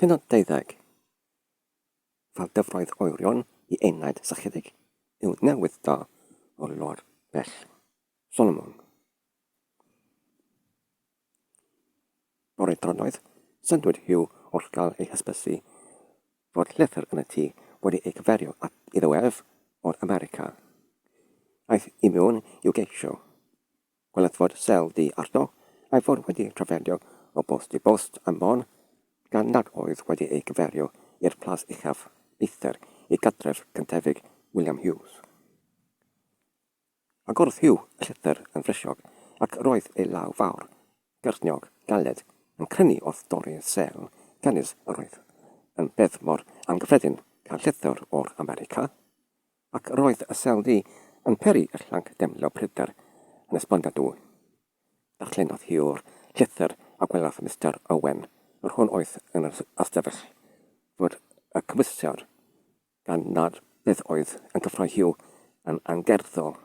Pennod 20. Fel dyfroedd oerion i enaid sychedig yw newydd da o lor bell Solomon. Bore dronoeth, syndwyd Hugh wrth gael ei hysbysu fod llythyr yn y tŷ wedi ei gyferio at iddo ef o'r America. Aeth i mewn i'w geisio. Gweled fod sel du arno, a'i fod wedi trafferthu o bost i bost am fôn, gan nad oedd wedi ei gyfeirio i'r plas uchaf eithr i gadref cyntefig William Hughes. Agorodd Hugh y llythyr yn frysiog, ac roedd ei law fawr, gyrniog, galed, yn crynu wrth dorri sel, canys yr oedd yn beth mor angyffredin cael llythyr o'r America, Ac roedd y seldy yn peri y llanc demlo pryder yn esbongadw. Darllenodd hi'r llythyr a gwelodd Mister Owen, yr hwn oedd yn yr ystafell, fod y cymwysiad, gan nad beth oedd yn cyffroi Huw, yn angerddol.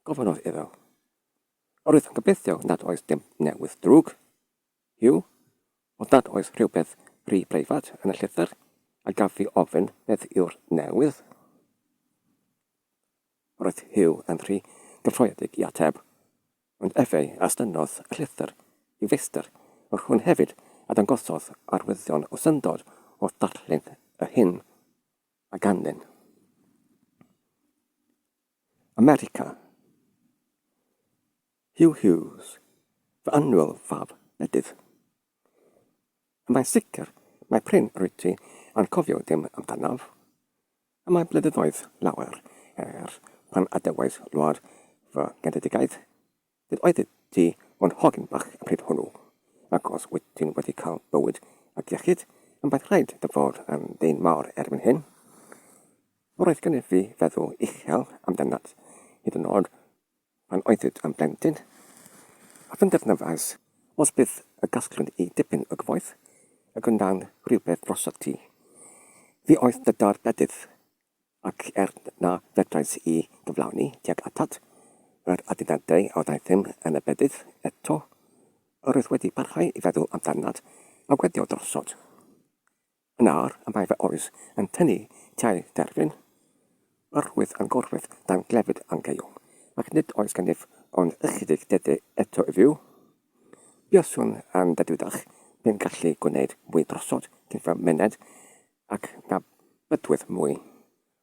Gofynnodd iddo. Yr oedd yn gobeithio nad oes dim newydd drwg? Hugh, os nad oes rhywbeth rhy breifat yn y llythyr, a gaf fi ofyn beth yw'r newydd? Roedd Hugh yn rhy gyffroedig i ateb, ond efe a stynnodd y llythyr i feistr, ond hwn hefyd a dangosodd arwyddion o syndod wrth ddarllen yr hyn a ganlyn. America. Huw Hughes, fy annwyl fab bedydd. A mae'n sicr mai prin rwyt ti a'n cofio dim amdanof. A mae blynyddoedd lawer her pan adawais wlad fy ngenedigaeth, nid oeddet ti ond hogyn bach y pryd hwnnw, ac os wyt ti'n wedi cael bywyd ac iechyd, am baith rhaid dy fod yn ddyn mawr erbyn hyn. Yr oedd gennyf fi feddwl uchel amdanat, hyd yn oed Pan oeddid yn blentyn, a phenderfynais os bydd y gasgliwn i dipyn o gyfoeth y gwnawn rhywbeth drossot ti. Fi oedd dy dâr bedydd, ac er na fedrais i gyflawni tuag atat yr aduniadau a wnaethum yn y bedydd, eto, yr oedd wedi parhau i feddwl amdanat a weddio drossot. Yn awr y mae fy oes yn tynnu tair derfyn o'r rhwydd a'n gorwedd dan glefyd angeuol, ac nid oes gennyf ond ychydig dede eto i fyw. Buaswn yn ddedwyddach pe'n gallu gwneyd mwy drossod cyn fy myned, ac na bydwyf mwy.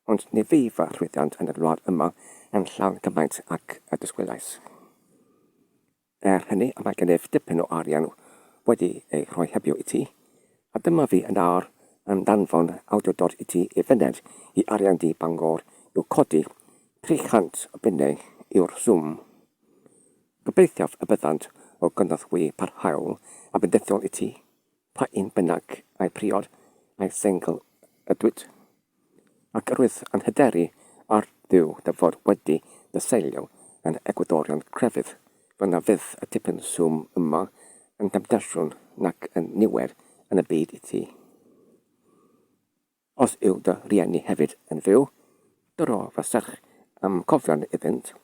Ond ni fu fy llwyddiant yn y wlad yma yn llawn cymaint ag y disgwylais. Er hynny, mae gennyf dipyn o arian wedi ei rhoi hebio i ti, a dyma fi yn awr yn danfon awdurdod i ti i fyned i arian du Bangor i'w codi, tri chant o bunnau yw'r swm. Gobeithiaf y byddant o gynorthwy parhaol a bendithiol i ti. Pa un bynnag a'i priod, a'i sengl ydwyt, ac yr wyt yn hyderu ar Dduw dy fod wedi dy seilio yn egwyddorion crefydd, fel na fydd y tipyn swm yma yn demtasiwn nac yn niwed yn y byd i ti. Os yw dy rieni hefyd yn fyw, dyro fy serch a'm cofion iddynt,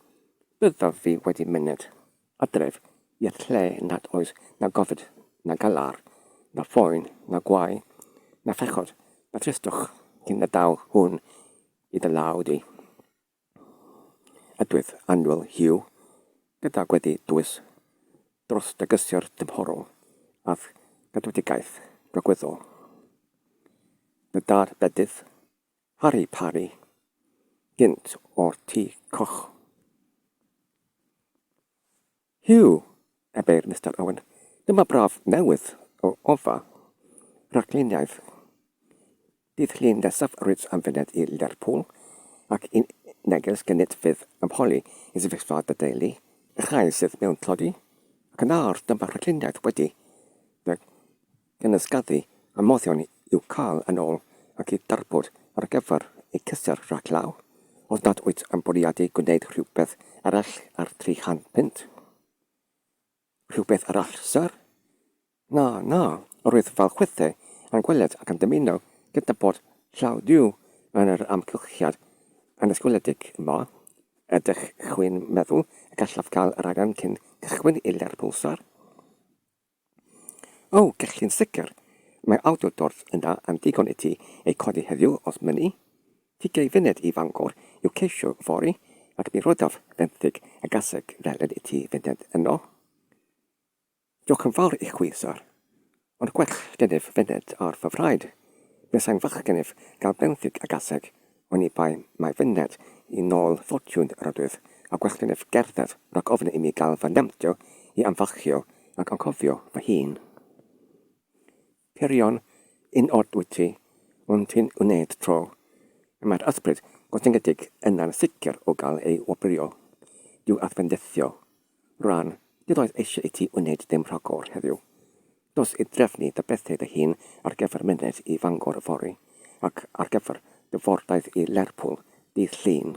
byddaf fi wedi myned adref i'r lle nad oes na gofid, na galar, na phoen, na gwau, na phechod, na thristwch cyn y daw hwn i dy law di. Ydwyf annwyl, Huw, gyda gweddi dwys dros dy gysur tymhorol a'th gadwedigaeth gogwyddol. Dy dad bedydd, Harri Parri, gynt o'r Tŷ Coch. Hyw! ebeir Mister Owen, dyma braf newydd o ofa rhagluniaidd. Bydd llun nesaf Rich am fyned i Lerpwl, ac un neges gynnydd fydd am holi i sefyllfa dy deulu, y rhai sydd mewn tlodi, ac yn arw, dyma rhagluniaeth wedi dy Cynysgyddu y moddion i'w cael yn ôl ac i darbod ar gyfer y cysur rhag law, os nad wyt yn bwriadu gwneud rhywbeth arall ar 300 punt. Rhywbeth arall, Syr? Na, na, yr oedd fy chwythu yn gweled ac yn dymuno cydnabod llaw Duw yn yr amgylchiad anysgwyledig yma. Ydych chwi'n meddwl y gallaf gael rhaglen cyn cychwyn i Lerpwl, Syr? O, gech chi'n sicr. Mae awdurdod yn dda am ddigon i ti eu codi heddiw os mynni. Ti gei fyned i Fangor i'w ceisio fory, ac mi rodaf fenthyg a gaseg felyn i ti fyned yno. Diolch yn fawr i chwi, syr. Ond gwell gennyf fyned ar fy fraid. Buasai'n wych gennyf gael benthyg a gaseg Oni bai mai fy ned i nôl ffortiwn yr oedwydd, a gwelltyn ef gerdded rhag ofn imi gael fy nhamtio i ymfalchio ac anghofio fy hun. Pirion, yn od wyt ti, ond ti'n wneud tro. Y mae'r ysbryd gotyngedig yna'n sicr o gael ei wobrwyo. Dyw adfendyddio Rhan, nid oedd eisiau i ti wneud dim rhagor heddiw. Dos i drefnu dy bethau dy hun ar gyfer myned i Fangor yfory, ac ar gyfer dy fordaith i Lerpwl dydd Llun.